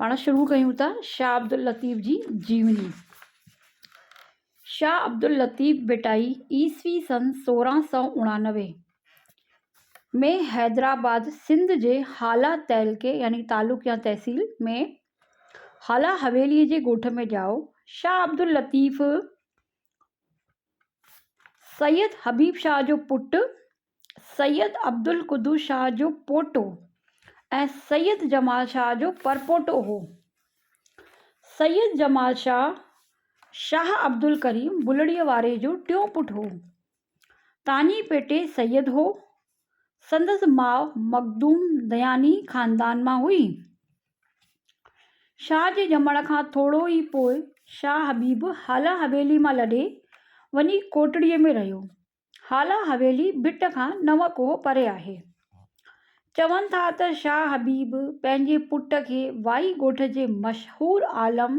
پاڻ شروع ڪيون ٿا شاهه عبداللطيف جي جيوني. شاهه عبداللطيف ڀٽائي عيسوي سن سورهن سؤ اڻانوي ۾ حيدرآباد سنڌ جي هالا تعلقي يعني تعلق يا تحصيل ۾ هالا حويلي جي ڳوٺ ۾ ڄائو. شاهه عبداللطيف سيد حبيب شاهه جو پٽ سيد عبدالقدوس شاهه جو پوٽو ۽ سيد جمال شاهه جو پرپوٽو هو. سيد جمال شاهه، شاهه عبدالڪريم بلڙيء واري جو ٽيون پٽ هو. تاڃي پيٽي سيد هو. سندس ماء مخدوم دياني خاندان مان هئي. شاهه جي ڄمڻ کان ٿورو ئي پوء شاهه حبيب هالا حويلي مان لڏي وڃي ڪوٽڙيء ۾ رهيو. هالا حويلي ڀٽ کان نو ڪوهه پري آهي. چون ٿا ته شاهه حبيب پنهنجي پٽ کي وائي ڳوٺ جي مشهور عالم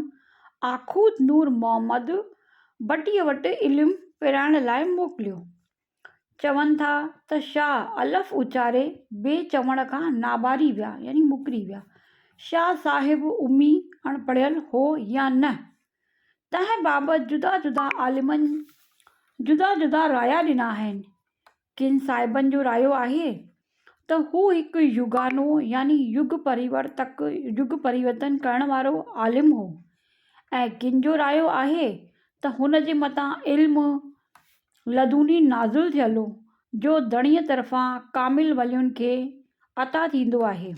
آخود نور محمد ڀٽيء وٽ علم پرائڻ لاء موڪليو. چون ٿا ته شاهه الف اچاري بي چوڻ کان ناباري ويا يعني مڪري ويا. شاهه صاحب امي، اڻپڙهيل، هو يا نه؟ تنهن بابت جدا جدا عالمن جدا جدا رايا ڏنا آهن. ڪن صاحبن جو رايو آهي ته هو هڪ يوگانو يعني يگ پريورتڪ، يگ پريورتن ڪرڻ وارو، عالم هو ۽ ڪن جو رايو آهي ته هن جي مٿان علم لدوني نازل ٿيل هو جو ڌڻيء طرفان ڪامل ولين کي عطا ٿيندو آهي.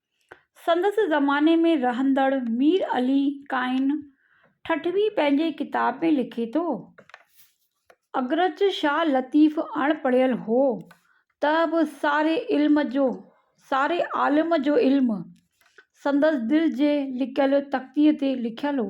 سندس زماني ۾ رهندڙ مير علي قائن ٺٽوي پنهنجي ڪتاب ۾ لکي ٿو، اگرچ شاهه لطيف اڻ پڙهيل هو، ته به ساري علم جو ساري عالم جو علم سندس دل جي لڪيل تختيء تي لکيل هو.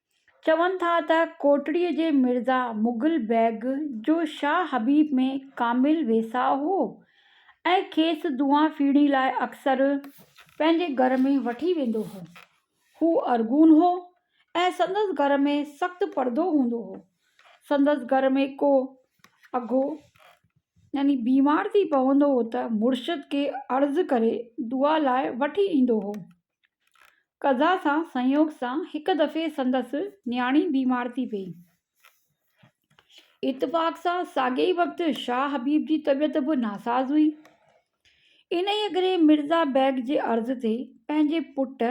چون ٿا ته ڪوٽڙيء جي مرزا مغل بيگ جو شاهه حبيب ۾ ڪامل ويساهه هو ۽ کيس دعا ڦيڻي لاء اڪثر پنهنجي گهر ۾ وٺي ويندو هو. هو ارغون هو ۽ سندس گهر ۾ سخت پردو هوندو هو. سندس گهر ۾ ڪو اگهو يعني بيمار ٿي پوندو هو ته مرشد کي عرض ڪري دعا لاء وٺي ايندو هو. قضا سان سنيوگ سان هڪ دفعي سندس نياڻي بيمار ٿي پئي. اتفاق سان ساڳئي ئي وقت شاهه حبيب جي طبيعت به ناساز هئي. انهيء ڪري مرزا بيگ جي عرض تي پنهنجي پٽ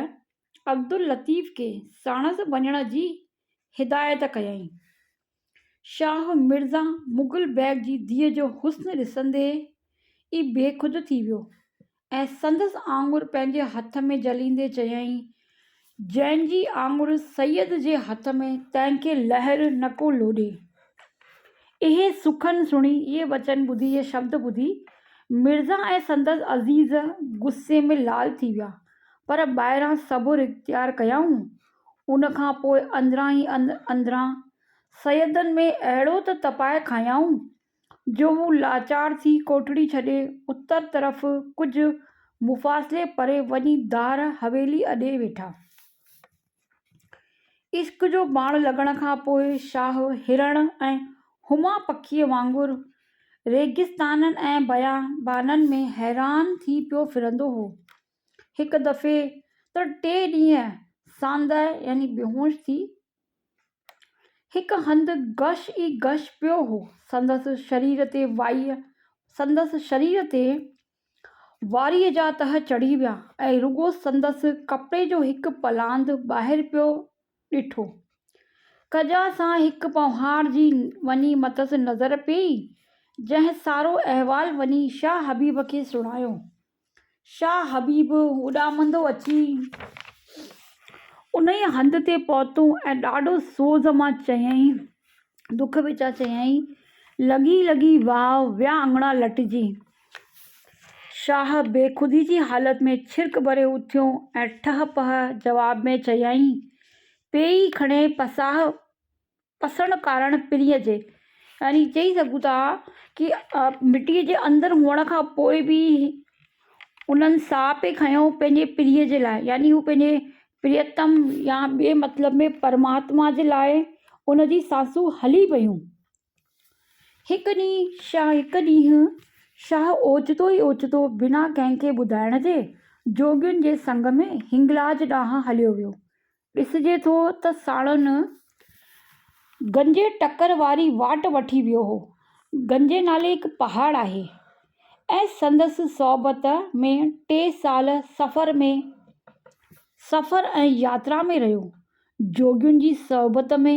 عبداللطيف کي ساڻس وڃڻ جي هدايت ڪيائين. شاهه مرزا مغل بيگ جي ڌيء جو حسن ڏسندي ئي بيخود ٿي ويو ۽ سندس آڱر پنهنجي هٿ ۾ جهليندي چيائين، جنهن جي آڱر سيد جي هٿ ۾، تنهن کي لهر نه ڪو لوڏي. اهي سخن سڻي، اهي وچن ٻڌي، اهي شبد ٻڌي مرزا ۽ سندس عزيز غصي ۾ لال ٿي ويا، پر ٻاهران صبر اختيار ڪيائون ان کان پوء اندران ئي اندران سيدن ۾ اهڙو ته تپائي کنيائون، جو هو لاچار ٿي ڪوٺڙي ڇڏي اتر طرف ڪجهه مفاصلي پري وڃي دار حويلي اڏي ويٺا. عشق جو باڻ لڳڻ کان پوء شاهه هرڻ ۽ هما پکيء وانگر ريگستانن ۽ بيابانن ۾ حيران ٿي پيو ڦرندو هو. هڪ دفعي ته ٽي ڏينهن ساندهه يعني بيهوش ٿي هڪ هنڌ گش ئي گش پيو هو. سندس شرير تي وائيء سندس شرير تي واريء جا تهه چڙهي ويا ۽ رڳو سندس ڪپڙي جو هڪ پلاند ٻاهر پيو ڏٺو. ڪجا سان هڪ پونهار جي وڃي مٿس نظر پيئي، جنهن سارو احوال وڃي شاهه حبيب کي سڻايو. شاهه حبيب اڏامندو اچي انهيء هنڌ تي پهتو ۽ ڏاڍو سوز مان چيائين، دک وچان چيائين، لڳي لڳي واهه، ويا اڱڻا لٽجي. شاهه بيخودي جي حالت ۾ ڇرڪ ڀري اٿيو ۽ ٺهه پهه جواب ۾ چيائين، پيئي کڻي پساهه پسڻ ڪارڻ پرينء جي يعني چئي سگهون ٿا ڪي مٽيء جي اندر هئڻ کان پوء به انهن ساهه پئي کنيو پنهنجي پرينء جي لاء يعني هو پنهنجي پريتم يا ٻئي مطلب ۾ پرماتما جي لاء ان جي سانسون هلي پيون. هڪ ڏينهن شاهه هڪ ڏينهن شاهه اوچتو ئي اوچتو بنا ڪنهن کي ٻڌائڻ جي جوڳين جي سنگ ۾ هنگلاج ڏانهن هليو ويو. ڏسجي ٿو ته ساڙهن گنجي ٽڪر واري واٽ وٺي ويو هو. گنجي نالي هڪ پهاڙ آهي ۽ سندس صحبت ۾ ٽي سال سفر ۾ سفر ۽ ياترا ۾ رهيو. جوڳين جي صحبت ۾.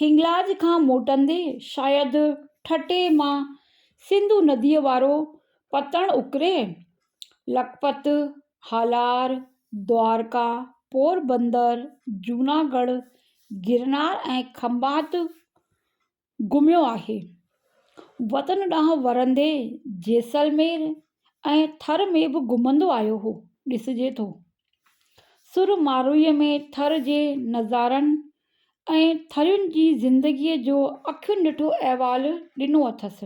هنگلاج کان موٽندي شايد ٺٽي مان سنڌو نديء وارو پتڻ اڪري، لکپت، هالار، دوارڪا، پوربندر، جوناگڙهه، گرنار ۽ کنڀات گهميو آهي. وطن ڏانهن ورندي جيسلمير ۽ ٿر ۾ به گهمندو آيو هو، ڏسجي ٿو. سر ماروئي ۾ ٿر جي نظارن ۽ ٿرين جي زندگي جو اکين ڏٺو احوال ڏنو اٿس.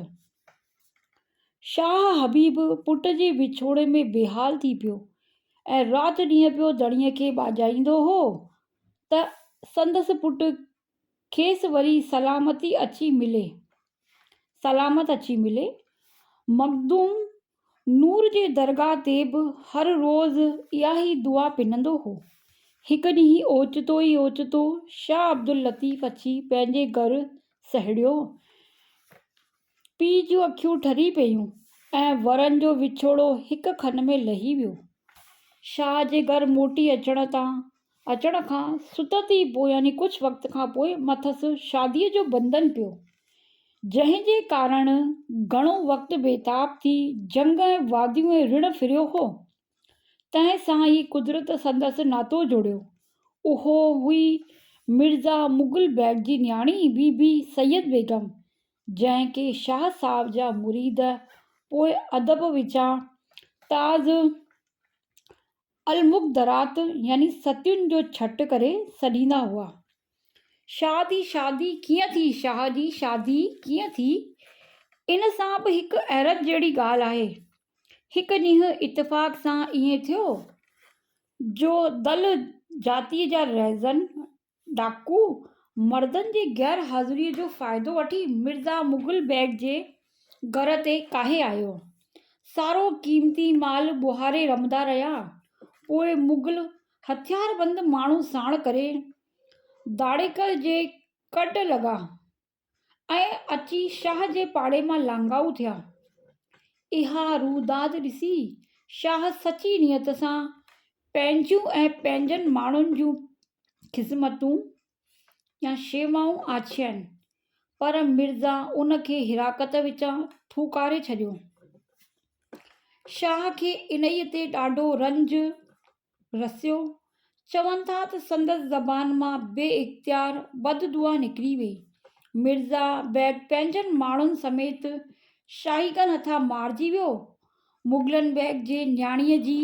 شاهه حبيب پٽ جي وڇوڙي ۾ بيحال ٿي پيو ۽ رات ڏينهن پيو ڌڻيء کي ٻاجهائيندو هو ته سندس پٽ کيس وري سلامتي اچي ملي. سلامت اچي ملي. مخدوم نور جي درگاهه تي به هر روز اها ئي دعا پنندو هو. هڪ ڏينهن اوچتو ئي اوچتو شاهه عبداللطيف اچي پنهنجي گهر سهڙيو. پيء جون اکيون ٺري پيون ۽ ورن جو وڇوڙو هڪ کن ۾ لهي ويو. شاهه جي گهر موٽي اچڻ تان اچڻ کان ستت ئي پوء يعني ڪجهه وقت کان پوء مٿس شاديء جو بندن پيو، جنهن جي ڪارڻ گهڻو وقت بيتاب ٿي جهنگ ۽ واديون ۽ رڻ ڦريو هو. تنهن سان ئي قدرت سندس ناتو جوڙيو. اهو هئي مرزا مغل بيگ جي نياڻي بي بي سيد بيگم، جنهن کي شاهه صاحب جا مريد پوء ادب وچان تاز المخدرات يعني ستين جو ڇٽ ڪري سڏيندا هئا. شاهه جي شادي ڪيئن ٿي؟ شاهه جي شادي ڪيئن ٿي؟ ان سان به هڪ حيرت جهڙي ڳالهه آهي. هڪ ڏينهن اتفاق سان ائين ٿيو جو دل جاتيء جا رهزن ڊاڪو مردن جي غير حاضريء جو فائدو وٺي مرزا مغل بيگ جي گهر تي ڪاهي آيو. سارو قيمتي مال ٻوهاري رمندا رهيا. پوء مغل هٿياربند ماڻهو ساڻ ڪري ڌاڙيڪر جي ڪڍ لڳا. ۽ اچي شاهه جي پاڙي مان لانگائو ٿيا. اها روئداد ڏسي شاهه سچي نيت سان پنهنجون ۽ پنهنجن ماڻهن جون خذمتون يا شيوائون آڇيائين، پر مرزا ان کي حراقت وچان ٿوڪاري ڇڏيو. شاهه کي انهيء تي ڏاڍو رنج رسيو، چون ٿا ته سندس زبان مان بي اختيار بد دعا نڪري وئي. مرزا بيگ پنهنجن ماڻهن سميت شاهيگن هٿان مارجي ويو. مغلن بيگ جي نياڻيء جي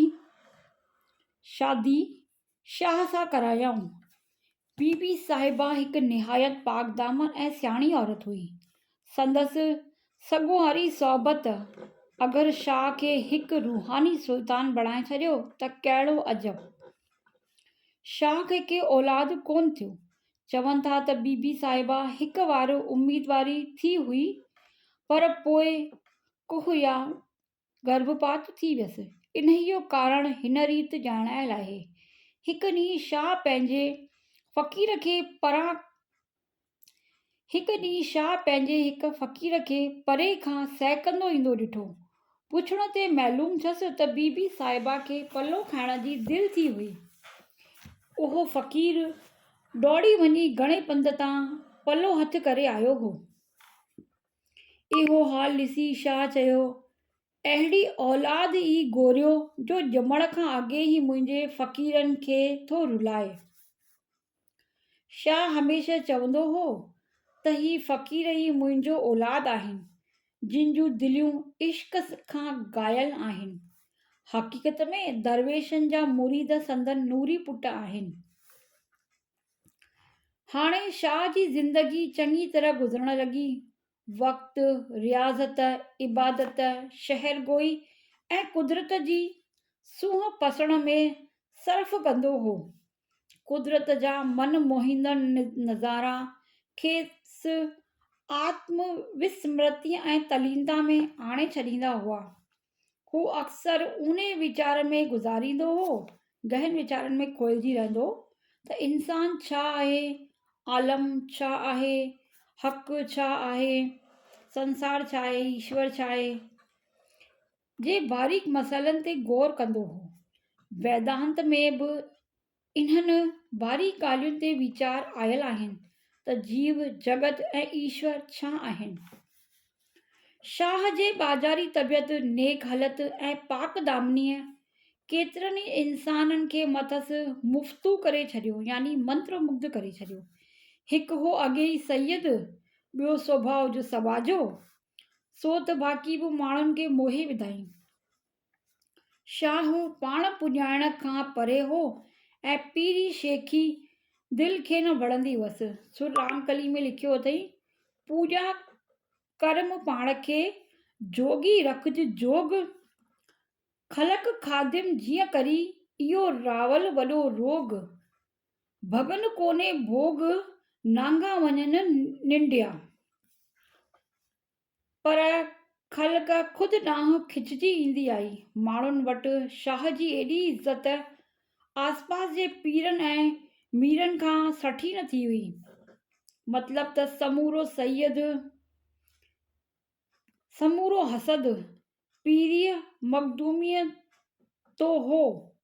شادي شاهه سان ڪرايائون. بي بي صاحبه هڪ نهايت پاڪدامن ۽ سياڻي عورت هئي. سندس سڳواري صحبت اگر شاهه کي هڪ روحاني سلطان بڻائي ڇڏيو ته ڪهڙو عجب! شاهه کي ڪي اولاد ڪونه ٿيو. چون ٿا ته بي بي صاحبه هڪ وارو اميدواري ٿي هئي پر پوء ڪوهه يا گرڀپات ٿي ويس. انهيء جو ڪارڻ هن ريت ڄاڻايل آهي. هڪ ڏينهن شاهه پنهنجي فقير کي پران هڪ ڏينهن شاهه پنهنجي هڪ فقير کي پري کان سهڪندو ايندو ڏٺو. پڇڻ تي معلوم ٿيس ته بي بي صاحبه کي پلو کائڻ جي دل ٿي هئي. اهو فقير ڊوڙي وڃي گهڻي پنڌ تان پلو هٿ ڪري آيو هو. اهو حال ڏسي شاهه چيو، اهڙي اولاد ئي گوريو جو ڄمڻ کان اڳي ئي منهنجي فقيرن کي ٿو رلائي. شاهه هميشه چوندو هو ته هي فقير ئي منهنجو اولاد آهن جن جون دليون عشق کان گايل آهن. حقيقت ۾ درويشن جا مريد سندن نوري پٽ آهن. هاڻي شاهه جي زندگي چڱي طرح گذرڻ لڳي. وقت، رياضت، عبادت، شهر گوئي ۽ قدرت جي سونهن پسڻ ۾ صرف ڪندو هو. قدرت جا من موهيندڙ نظارا کيس آتم وسمرتيء ۽ تلينتا ۾ آڻي ڇڏيندا هئا. هو اڪثر ان ئي ويچار ۾ گذاريندو هو، گهن ويچارن ۾ کوئجي رهندو هو ته انسان ڇا آهي؟ عالم ڇا آهي؟ حق ڇا آهي؟ سنسار ڇا آهي؟ ايشور ڇا آهي؟ جي باريڪ مسئلن تي غور ڪندو هو. ويدانت ۾ به انهن باري ڳالهين تي ويچار آيل آهن ته جيو، جڳت ۽ ايشور ڇا آهن؟ شاهه جي ٻاجهاري طبيعت، نيڪ هلت ۽ پاڪ دامنيء ڪيترن ئي انسانن کي مٿس مفتو ڪري ڇڏيو يعني منتر مگڌ ڪري ڇڏيو. هڪ هو اڳي ئي سيد، ٻيو سوڀاء جو سٻاجهو، سو ته باقي به ماڻهن کي موهي وڌائين. شاهه پاڻ پڄائڻ کان پري هو ۽ پيري شيخي دل کي نه وڻندي هئس. سو رام ڪلي ۾ لکيو اٿئي، پوڄا ڪر مون پاڻ کي، جوڳي رکج جوڳ، خلق خادم جيئن ڪري، اهو راول وڏو روڳ، ڀڳن ڪونهي ڀوڳ، نانگا وڃن ننڊيا. پر خلق خود ڏانهن کچجي ايندي آئي. ماڻهن وٽ شاهه جي ايڏي عزت آسپاس جي پيرن ۽ ميرن کان سٺي نه ٿي هئي. مطلب ته سمورو سيد، سمورو حسد پيريء مخدوميء تو هو.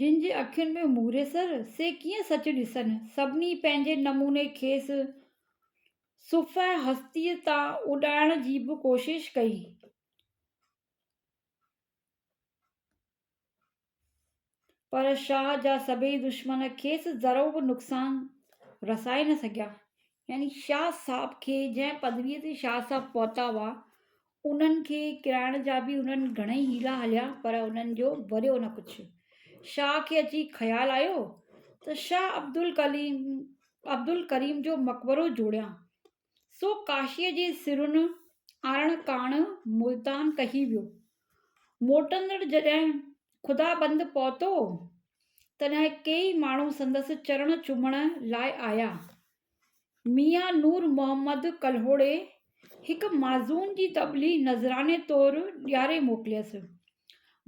جن جي اکين ۾ موري سر، سي ڪيئن سچ ڏسن؟ سڀني پنهنجي نموني کيس صفحه هستيء تان اڏائڻ جي به ڪوشش ڪئي. پر شاهه جا سڀيئي دشمن کيس ذرو به نقصان رسائي نه سگهيا. يعني شاهه صاحب کي جنهن پدويء تي شاهه صاحب پهتا هئا، انهن کي ڪيرائڻ جا به هنن گهڻئي حيلا هليا پر انهن جو وريو نه ڪڇ. شاهه کي اچي خيال آيو ته شاهه عبدالڪليم عبدالڪريم جو مقبرو جوڙيان. سو ڪاشيء جي سرن آڻڻ ڪاڻ ملتان ڪهي ويو. موٽندڙ جڏهن خدابند پهتو تڏهن ڪيئي ماڻهو سندس چرڻ چومڻ لاء آيا. ميان نور محمد ڪلهوڙي هڪ معزون جي تبلي نذراني طور ڏياري موڪليس.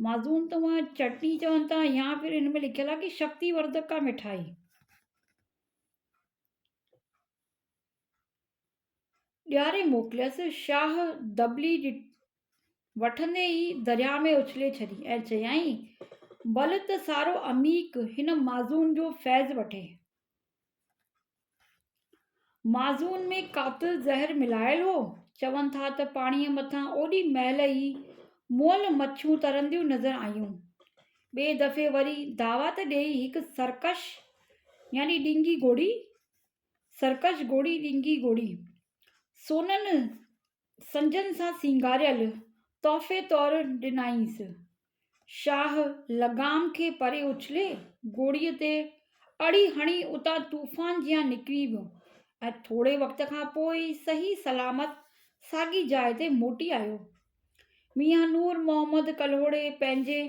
معزون ته هونئن چٽڻي چون ٿا يا پھر هن ۾ لکيل آهي ڪي شڪتي وردڪ ڪا مٺائي. ڏياري موڪليس. شاهه دبلي وٺندي ئي درياء ۾ اڇلي ڇڏي ۽ چيائين، بل ته سارو عميق هن معزون جو فيض وٺي. معزون ۾ قاتل زهر ملايل هو. چون ٿا ته پاڻيء مٿان اوڏي مهل ئي مئل مڇون ترنديون نظر آيون. ٻئي دفعي وري دعوت ڏيئي هڪ سرڪش يعني ڏينگي گهوڙي، Circus، گهوڙي، ڏينگي گهوڙي، سونن سنجن سان سينگاريل تحفي طور ڏنائينس. شاهه لغام کي پري اڇلي گوڙيء تي اڙي هڻي اتان طوفان جيان نڪري ويو ۽ ٿوري وقت کان پوء ئي صحيح سلامت ساڳي جاء تي موٽي آيو. ميان نور محمد ڪلهوڙي پنهنجي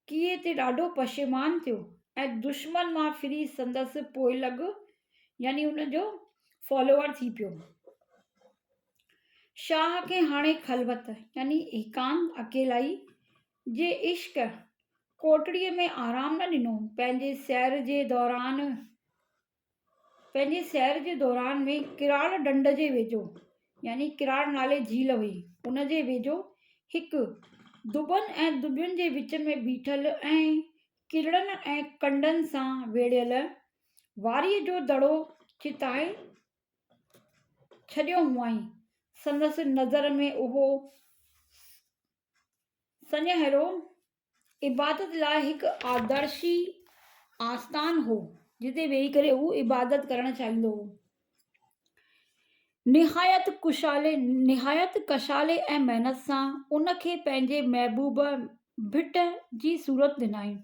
ڪيئي تي ڏاڍو پشيمان ٿيو ۽ دشمن مان ڦري سندس پوئلڳ يعني ان جو فالوور ٿي پيو. شاهه کي هاڻي خلوت يعني ايڪانت، اڪيلائي، جي عشق ڪوٽڙيء ۾ آرام نه ڏنو. پنهنجي سير جي دوران پنهنجي سير جي دوران ۾ ڪراڙ ڍنڍ جي ويجهو يعني ڪراڙ نالي جهيل هئي ان جي ويجهو هڪ دٻن ۽ دٻين جي وچ ۾ بيٺل ۽ ڪرڙن ۽ ڪنڊن سان ويڙهيل واريء جو دڙو چتائي ڇڏيو هئائين. سندس نظر ۾ اهو سنهڙو عبادت لاء هڪ آدرشي آستان هو، جتي ويهي ڪري هو عبادت ڪرڻ چاهيندو هو. نهايت ڪشادي ۽ محنت سان ان کي پنهنجي محبوب ڀٽ جي صورت ڏنائين.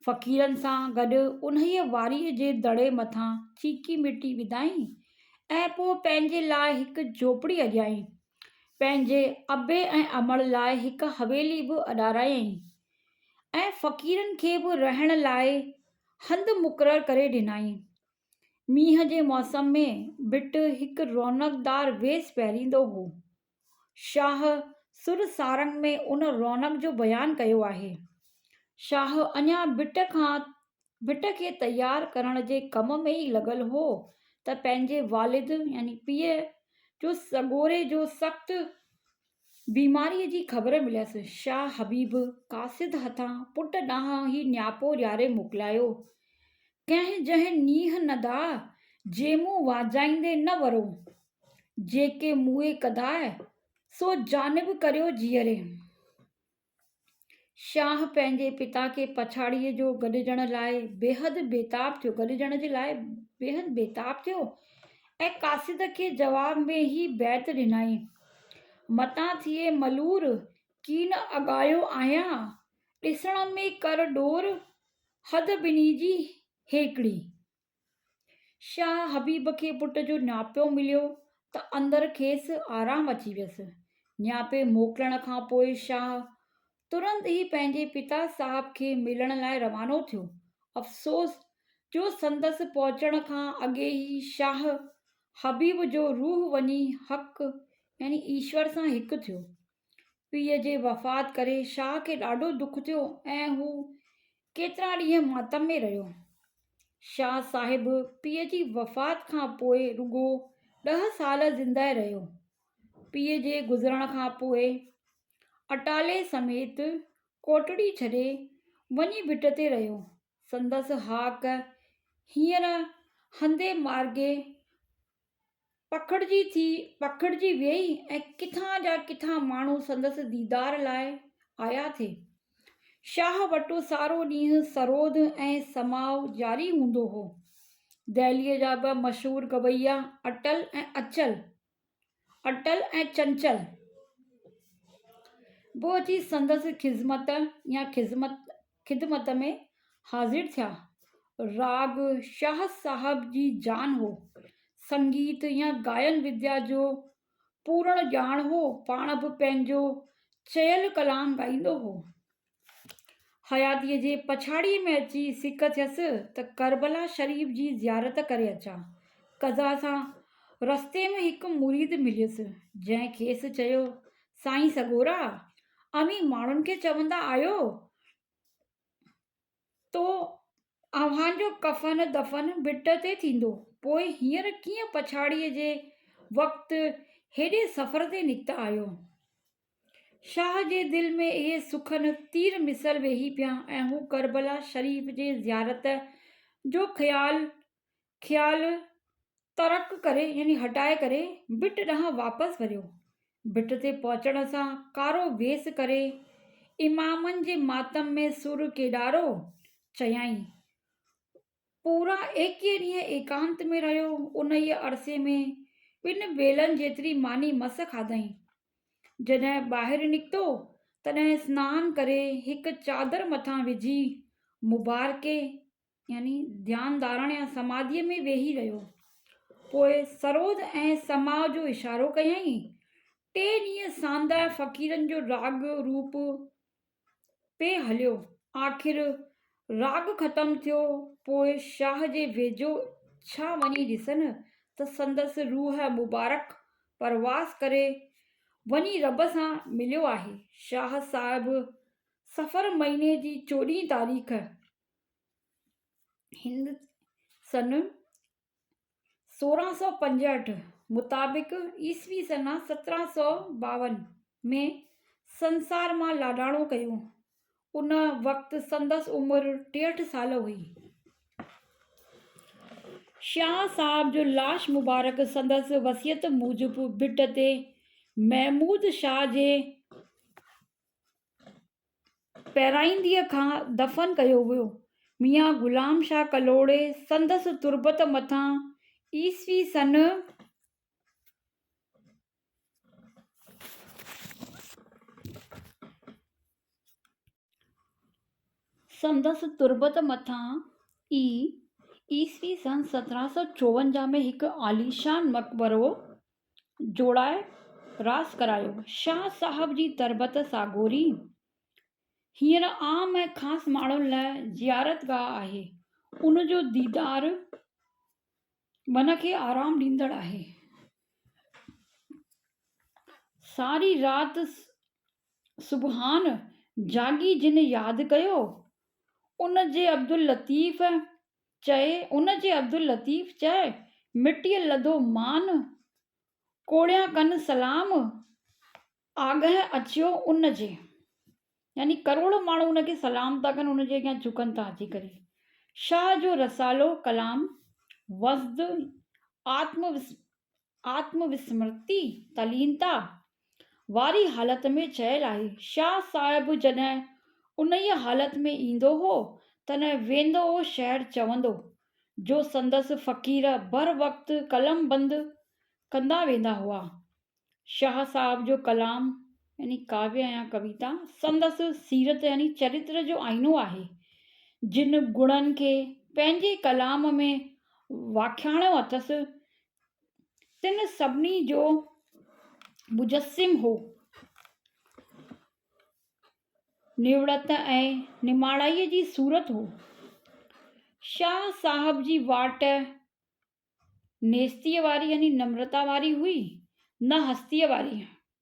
فقيرن سان گڏ انهيء واريء جي دڙي مٿان چيڪي مٽي وڌائين ۽ پوء پنهنجي لاء هڪ جهوپڙي اڏيائين. پنهنجي ابي ۽ امڙ لاء هڪ حويلي به اڏارايائين ۽ فقيرن کي به رهڻ لاء هنڌ مقرر ڪري ڏنائين. مينهن جي موسم ۾ ڀٽ هڪ رونقدار ويس پهريندو هو. شاهه سر سارنگ ۾ ان رونق جو بيان ڪيو آهي. شاهه اڃا ڀٽ کان ڀٽ کي تيار ڪرڻ جي ڪم ۾ ئي لڳل هو ته پنهنجي والد يعني پيء جو سڳوري جو سخت بيماريء جي خبر مليس. شاهه حبيب قاصد هٿان پٽ ڏانهن هي نياپو ڏياري موڪلايو. ڪنهن جنهن نيهه ندا جيمون واجهائيندي نه ورو. جيڪي موئي ڪداء، سو جانب ڪريو جيئري. شاهه پنهنجي پتا کي پڇاڙيء جو گڏجڻ لاء بيحد بيتاب ٿيو، گڏجڻ جي لاء بيحد بيتاب ٿيو ۽ قاصد کي جواب ۾ هي بيت ڏنائين، متان ٿئي ملور، ڪين اڳايو آهيان، ڏسڻ ۾ ڪر ڏور، حد ٻنهي جي هيڪڙي. شاهه حبيب کي پٽ جو نياپو مليو ته اندر کيس آرام اچي ويس. نياپي موڪلڻ کان پوء شاهه ترنت ئي پنهنجي پتا صاحب کي ملڻ لاء روانو ٿيو. افسوس جو سندس پهچڻ کان اڳي ئي شاهه حبيب جو روح وڃي حق يعني ايشور سان هڪ ٿيو. پيء جي وفات ڪري شاهه کي ڏاڍو دک ٿيو ۽ هو ڪيترا ڏينهن ماتم ۾ رهيو. شاهه صاحب پيء جي وفات کان پوء رڳو ڏهه سال زندهه رهيو. پيء جي گذرڻ کان پوء اٽالي سميت ڪوٽڙي ڇڏي وڃي ڀٽ تي رهيو. سندس هاڪ هينئر هندي مارڳي پکڙجي ٿي پکڙجي ويئي ۽ ڪٿان جا ڪٿان ماڻهو سندس ديدار لاء آيا ٿي. شاهه وٽ سارو ڏينهن سرود ۽ سماع جاري هوندو هو. دهليء جا ٻه مشهور گويا اٽل ۽ اچل، Atal and Chanchal، به اچي سندس خذمت يا خذمت خدمت ۾ حاضر ٿيا. راڳ شاهه صاحب جي جان هو. سنگيت يا گائن وديا جو پورڻ ڄاڻ هو. پاڻ به پنهنجو چيل ڪلام ڳائيندو هو. حياتيء جي پڇاڙيء ۾ اچي سڪ ٿيس ته ڪربلا شريف جي زيارت ڪري اچان. قضا سان رستي ۾ هڪ مريد مليس، جنهن کيس چيو، سائين سڳورا! اوهين ماڻهن کي چوندا آهيو ته اوهان جو ڪفن دفن ڀٽ تي ٿيندو، پوء هينئر ڪيئن پڇاڙيء جي وقت هيڏي سفر تي نڪتا آهيو؟ شاهه جي دل ۾ اهي سخن تير مثل ويهي پيا ۽ هو ڪربلا شريف جي زيارت جو خيال خيال ترڪ ڪري يعني هٽائي ڪري ڀٽ ڏانهن واپس وريو. ڀٽ تي پهچڻ سان ڪارو ويس ڪري امامن جي ماتم ۾ سر ڪيڏارو چيائين. پورا ايڪيهه ڏينهن ايڪانت ۾ رهيو. انهيء عرصي ۾ ٻن ويلن جيتري ماني مس کاڌائين. جڏهن ٻاهر نڪتو تڏهن سنان ڪري هڪ چادر مٿان وجهي مبارڪي يعني ڌيان ڌارڻ يا سماڌيء ۾ ويهي رهيو. پوء سروڌ ۽ سماء جو اشارو ڪيائين. ٽي ڏينهن سانده فقيرن جو راڳ روپ پئي هليو. آخر راڳ ختم ٿيو. پوء شاهه جي ويجهو ڇا وڃي ڏسن ته سندس روح مبارڪ پرواز ڪري وڃي رب سان مليو آهي. شاهه صاحب صفر مهيني جي چوڏهين تاريخ هن سن سورهن سؤ پنجهٺ مطابق عيسوي سنه سترهن سؤ ٻاون ۾ سنسار مان لاڏاڻو ڪيو. ان وقت سندس عمر ٽيهٺ سال هئي. شاهه صاحب جو لاش مبارڪ سندس وصيت موجب ڀٽ تي محمود شاهه جي پهرائينديء کان دفن ڪيو ويو. ميان غلام شاهه ڪلهوڙي سندس تربت مٿان عيسوي سن سندس تربت مٿان ئي عيسوي سن سترهن سؤ چوونجاهه ۾ هڪ عاليشان مقبرو جوڙائي راس ڪرايو. شاهه صاحب جي تربت ساڳوري هينئر عام ۽ خاص ماڻهن لاء زيارتگاهه آهي. ان جو ديدار من کي آرام ڏيندڙ آهي. ساري رات سبحان جاڳي جن ياد ڪيو، ان جي عبداللطيف چئي ان جي عبداللطيف چئه مٽيء لڌو مان، ڪوڙيان ڪن سلام آگهه اچيو ان جي. يعني ڪروڙ ماڻهو ان کي سلام ٿا ڪن، ان جي اڳيان جهڪن ٿا اچي ڪري. شاهه جو رسالو ڪلام وسد آتم آتم وسمرتي، تلينتا، واري حالت ۾ چيل آهي. شاهه صاحب جڏهن انهيء حالت ۾ ايندو هو، تڏهن ويندو هو شعر چوندو، جو سندس فقير بر وقت قلمبند ڪندا ويندا هئا. شاهه صاحب جو ڪلام يعني ڪاويه يا ڪويتا، سندس سيرت يعني چريتر جو آئينو آهي. جن گڻن کي پنهنجي ڪلام ۾ واکياڻيو اٿس، تن سڀني جو مجسم هو. نوڙت ۽ نماڻائيء جي صورت هو. شاهه صاحب جي واٽ نيستيء واري يعني نمرتا واري هئي، نه هستيء واري.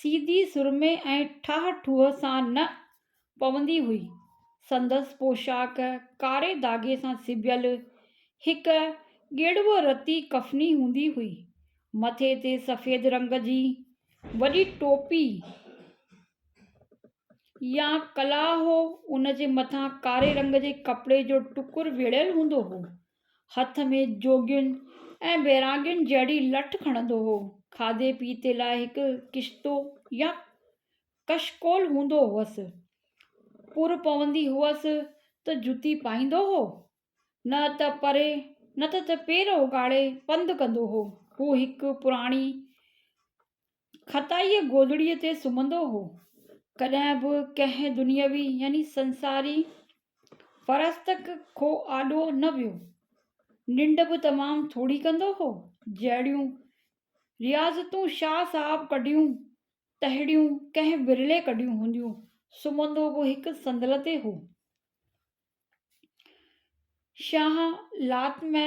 سيڌي سرمي ۽ ٺاهه ٺوهه سان نه پوندي هئي. سندس پوشاڪ ڪاري داڳي سان سبيل هڪ ڳيڙوء رتي ڪفني هوندي هئي. مٿي تي سفيد رنگ جي وڏي ٽوپي يا ڪلاهه هو، ان جي مٿان ڪاري رنگ جي ڪپڙي جو ٽڪر ويڙهيل هوندو هو. هٿ ۾ جوڳين ۽ بيراڳين جهڙي لٺ کڻندو هو. کاڌي پيتي لاء هڪ ڪشتو يا ڪشڪول هوندو هوس. پور پوندي هئس ته جتي پائيندو هو. نه ته پري نه ته پير اوڳاڙي پنڌ ڪندو هو. هو هڪ پراڻي خطائيء گودڙيء تي سمهندو هو. ڪڏهن به ڪنهن دنيوي يعني سنساري فرستڪ کؤ آڏو نه ويو. ننڊ به تمام ٿوري ڪندو هو. جهڙيون رياضتون شاهه صاحب ڪڍيون، تهڙيون ڪنهن ورلي ڪڍيون هونديون. سمهندو به هڪ صندل تي هو. شاهه لات ۾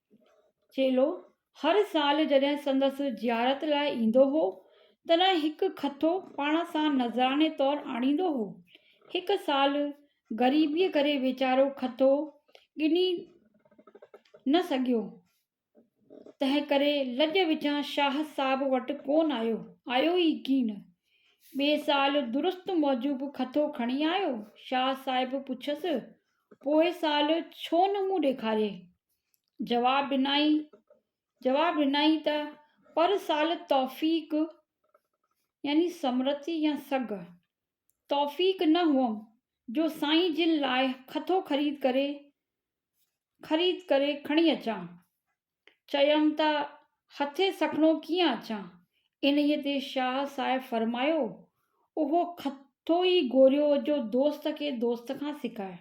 چيلو هر سال جڏهن سندس زيارت لاء ايندو هو، تڏهن هڪ کٿو پاڻ سان نذراني طور آڻيندو هو. هڪ سال غريبيء ڪري ويچارو کٿو ڳني نه سگهيو، تنهنڪري لڄ وچان شاهه صاحب وٽ ڪونه آيو، آيو ئي ڪين. ٻئي سال درست موجب کٿو کڻي آيو. شاهه صاحب پڇيس، پوئين سال ڇو نه مون ڏيکاريئي؟ جواب ڏنائين جواب ڏنائين ته پر سال توفيق يعني سمرٿي يا سگهه توفيق نه هئم جو سائين جن لاء کٿو خريد ڪري خريد ڪري کڻي اچان چيم ته هٿي سکڻو ڪيئن اچان انهيء تي شاهه صاحب فرمايو اهو کٿو ئي گهوريو جو دوست کي دوست کان سکائي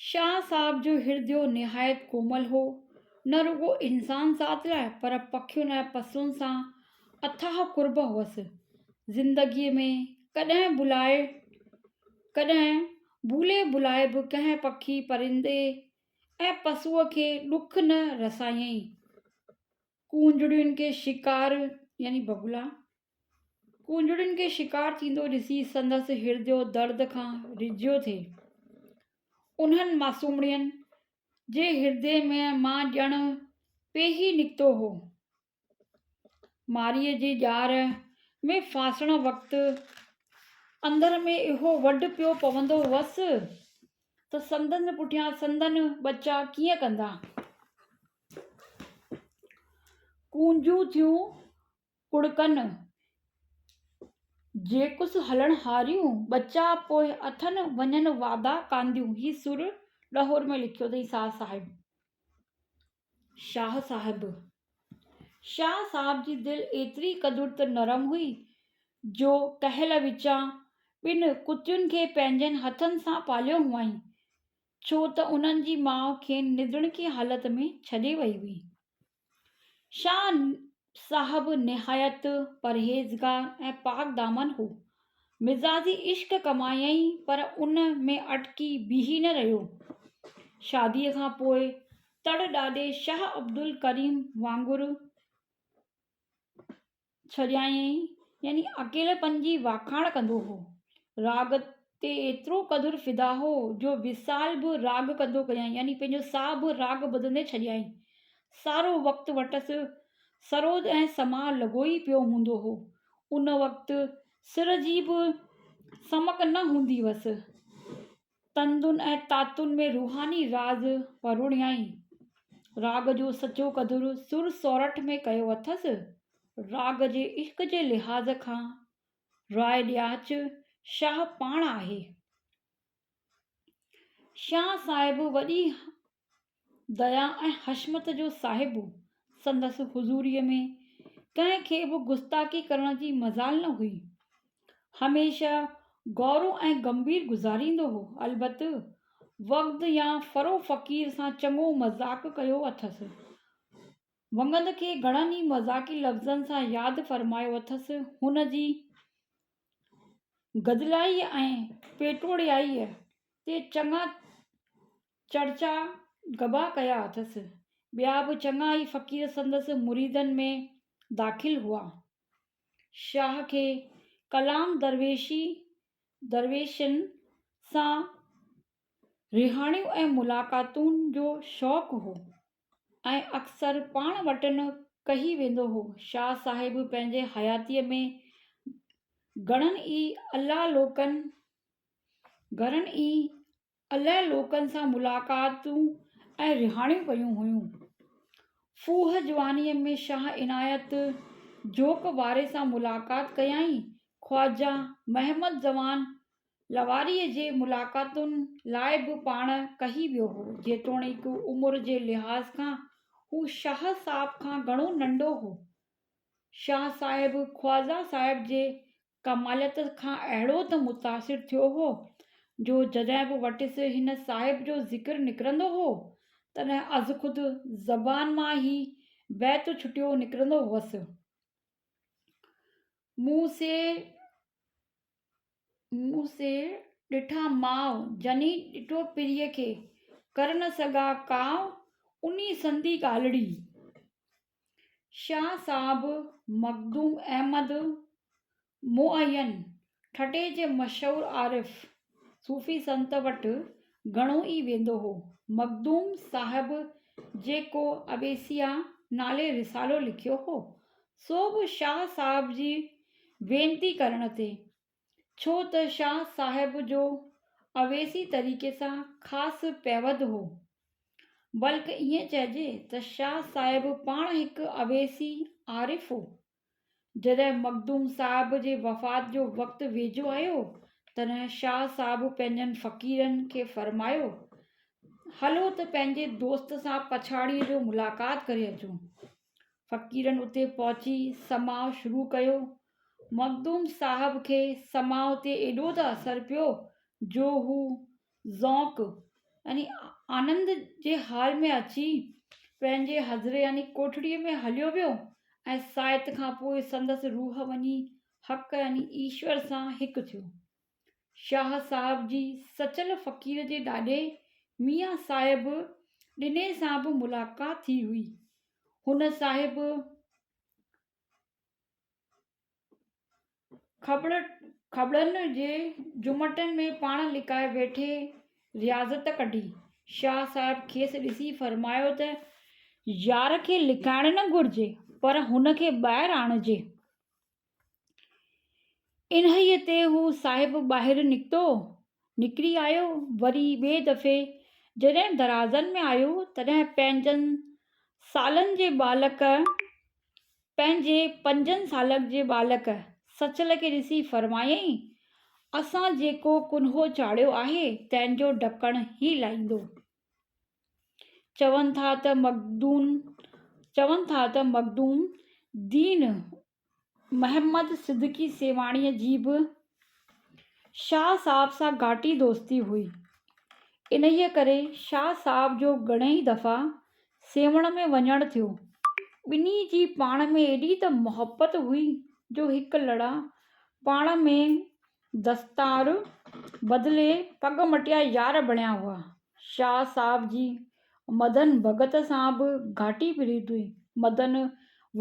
شاهه صاحب جو هرديو نهايت ڪومل هو. نه رڳو انسان ذات لاء پر پکين ۽ پسون سان اٿاهه قرب هئس. زندگيء ۾ ڪڏهن بلائي ڪڏهن ڀولي ڀلائي به ڪنهن پکي، پرندي ۽ پسوء کي ڏک نه رسايائين. ڪونجڙين کي شڪار يعني بگلا ڪونجڙين کي شڪار ٿيندو ڏسي سندس هرڏيو درد کان رجيو ٿئي. انهن معصومڙين جي هرڏي ۾ مان ڄڻ پيهي نڪتو هو. مارئيء جي ڄار ۾ ڦاسڻ وقت اندر ۾ اهو وڍ پيو پوندو هوس ته سندن پٺيان سندن ٻچا ڪيئن ڪندا. ڪونجون ٿيون ڪڙڪن، جيڪس هلڻ هاريون، ٻچا پوء اٿن وڃن وادا ڪانديون. هي سر ڏهور ۾ لکيو اٿئي شاهه صاحب. شاهه صاحب. شاهه صاحب جي دل ايتري قدر ته نرم هئي جو ڪهل وچان ٻن ڪتين کي پنهنجن هٿن سان پاليو هئائين، ڇو ته انهن جي ماء کين نڌڻڪي حالت ۾ ڇڏي وئي هئي. شاهه صاحب نهايت پرهيزگار ۽ پاڪ دامن هو. مزاجي عشق ڪمايائين پر ان ۾ اٽڪي بيهي نه رهيو. شاديء کان پوء تڙ ڏاڏي شاهه عبدالڪريم وانگر ڇڏيائين يعني اڪيلپن جي واکاڻ ڪندو هو. راڳ تي ايترو قدر فدا هو جو وصال به راڳ ڪندو ڪيائين يعني پنهنجو ساهه به راڳ ٻڌندي ڇڏيائين. سارو وقت وٽس سروج ۽ سماء لڳو ئي پيو هوندو هو. ان وقت سر جي به سمڪ نه هوندي هئس. تندن ۽ تاتن ۾ روحاني راز پروڙيائين. راڳ جو سچو قدر سر سورٺ ۾ ڪيو اٿس. راڳ جي عشق جي لحاظ کان راء ڏياچ شاهه پاڻ آهي. شاهه صاحب وڏي ديا ۽ حشمت جو صاحب هو. سندس حضوريء ۾ ڪنهن کي به گستاخي ڪرڻ جي مجال نه هئي. هميشه گورو ۽ گنڀير گذاريندو هو. البت وغد يا فرو فقير سان چڱو مذاق ڪيو اٿس. وغد کي گهڻن ئي مذاقي لفظن سان ياد فرمايو اٿس. هن جي گدلائيء ۽ پيٽوڙيائيء تي چڱا چرچا گبا ڪيا اٿس. ٻيا به چڱا ئي فقير سندس مريدن ۾ داخل هئا. شاهه کي ڪلام درويشي، درويشن، سان رهاڻيون ۽ ملاقاتون جو شوق هو ۽ اڪثر پاڻ وٽن ڪهي ويندو هو. شاهه صاحب پنهنجي حياتيء ۾ گهڻن ئي الله لوڪن، گهڻن ئي الائي لوڪن سان ملاقاتون ۽ رهاڻيون ڪيون هيون. ڦوهه جوانيء ۾ شاهه عنايت جوک واري سان ملاقات ڪيائين. خواجه محمد زمان لغاريء جي ملاقاتن لاء به پاڻ ڪهي ويو هو. جيتوڻيڪ عمر جي لحاظ کان هو شاهه صاحب کان گهڻو ننڍو هو. شاهه صاحب خواجه صاحب جي ڪماليت کان اهڙو ته متاثر ٿيو هو جو جڏهن به وٽس هن صاحب جو ذڪر نڪرندو هو، تڏهن ازخود زبان مان هي بيت ڇٽيو نڪرندو هوس. مون سي مون سي ڏٺا ماء، جني ڏٺو پريء کي، ڪر نه سگها ڪاء، انهي سندي ڳالهڙي. شاهه صاحب مخدوم احمد معين ٺٽي جي مشهور عارف صوفي سنت وٽ گهڻو ئي ويندو هو. مخدوم صاحب جيڪو اويسيا نالي رسالو لکيو هو، سو به شاهه صاحب جي وينتي ڪرڻ تي ڇو ته شاهه صاحب جو اويسي طريقي سان خاص پيوند هو. بلڪ ائين چئجي ته شاهه صاحب پاڻ هڪ اويسي عارف هو. جڏهن مخدوم صاحب جي وفات جو وقت ويجهو آيو تڏهن شاهه صاحب پنهنجن فقيرن کي فرمايو هلو ته پنهنجي دوست سان پڇاڙيء جو ملاقات ڪري اچون. فقيرن اتي پهچي سماع شروع ڪيو مخدوم صاحب کي سماع تي ايڏو ته اثر پيو جو هو ذوق يعني آنند جي حال ۾ اچي پنهنجي حجري يعني ڪوٺڙيء ۾ هليو ويو ۽ ساعت کان پوء سندس روح وڃي حق يعني ايشور سان هڪ ٿيو. شاهه صاحب جي سچل فقير جي ڏاڏي ميان صاحب ڏني سان به ملاقات ٿي هئي. هن صاحب کٻڙن جي جهمٽن ۾ پاڻ لڪائي ويٺي رياضت ڪڍي. شاهه صاحب کيس ڏسي فرمايو ته، يار کي لڪائڻ نه گهرجي، پر هن کي ٻاهر آڻجي. انهيء تي هو صاحب ٻاهر نڪتو، نڪري آيو، وري ٻئي دفعي جڏهن درازن ۾ آيو، تڏهن پنجن سالن جي ٻالڪ، پنهنجي پنجن سالن جي ٻالڪ سچل کي ڏسي فرمايائين، اسان جيڪو ڪنهو چاڙهيو آهي، تنهن جو ڍڪڻ هي لائيندو. چون ٿا ته مخدوم، چون ٿا ته مخدوم دين محمد صدقي سيوهاڻيء جي به شاهه صاحب سان گهاٽي دوستي هئي. انهيء ڪري شاهه صاحب جو گهڻيئي دفعا سيوهڻ ۾ وڃڻ ٿيو. ٻنهي جي پاڻ ۾ ايڏي ته محبت هئي جو هڪ لڙا پاڻ ۾ دستار بدلي پڳ مٽيا يار بڻيا هئا. شاهه صاحب جي مدن ڀڳت سان به گهاٽي پريت هئي. مدن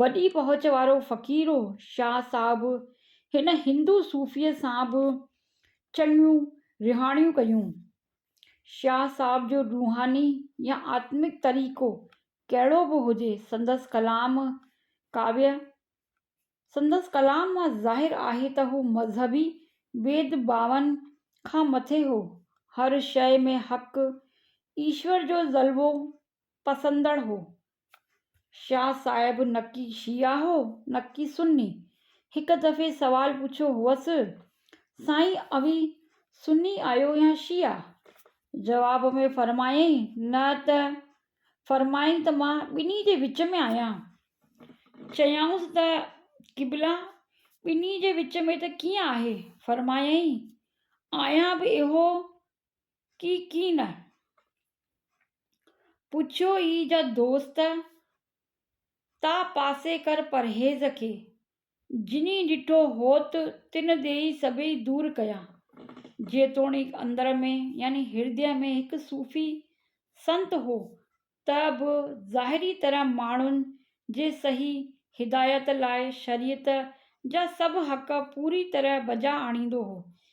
وڏي پهچ وارو فقير هو. شاهه صاحب هن هندو صوفيء سان به چڱيون رهاڻيون ڪيون. شاهه صاحب جو روحاني يا آتمڪ طريقو ڪهڙو به هجي، سندس ڪلام ڪاويه سندس ڪلام مان ظاهر آهي ته هو مذهبي ويد ڀاون کان مٿي هو. هر شيء ۾ حق، ايشور جو جلوو پسندڙ هو. شاهه صاحب نڪي شيعه هو نڪي سني. هڪ دفعي سوال پڇيو هئس، سائين اوهين سني آهيو يا شيعه؟ جواب ۾ فرمايائين، نه ته فرمائين ته مان ٻنهي جي وچ ۾ آهيان. چيائونس ته قبلا! ٻنهي جي وچ ۾ ته ڪيئن آهي؟ فرمايائين، آهيان به اهو ڪي ڪي نه. پڇيو اي جا دوست، تا پاسي ڪر پرهيز کي، جنھن ڏٺو ھوت تن ڏيئي سڀئي دور ڪيا. جيتوڻيڪ اندر ۾ يعني ھردي ۾ ھڪ صوفي سنت ھو ته به ظاھري طرح ماڻھن جي صحيح ھدايت لاء شريعت جا سڀ حق پوري طرح بجا آڻيندو ھو.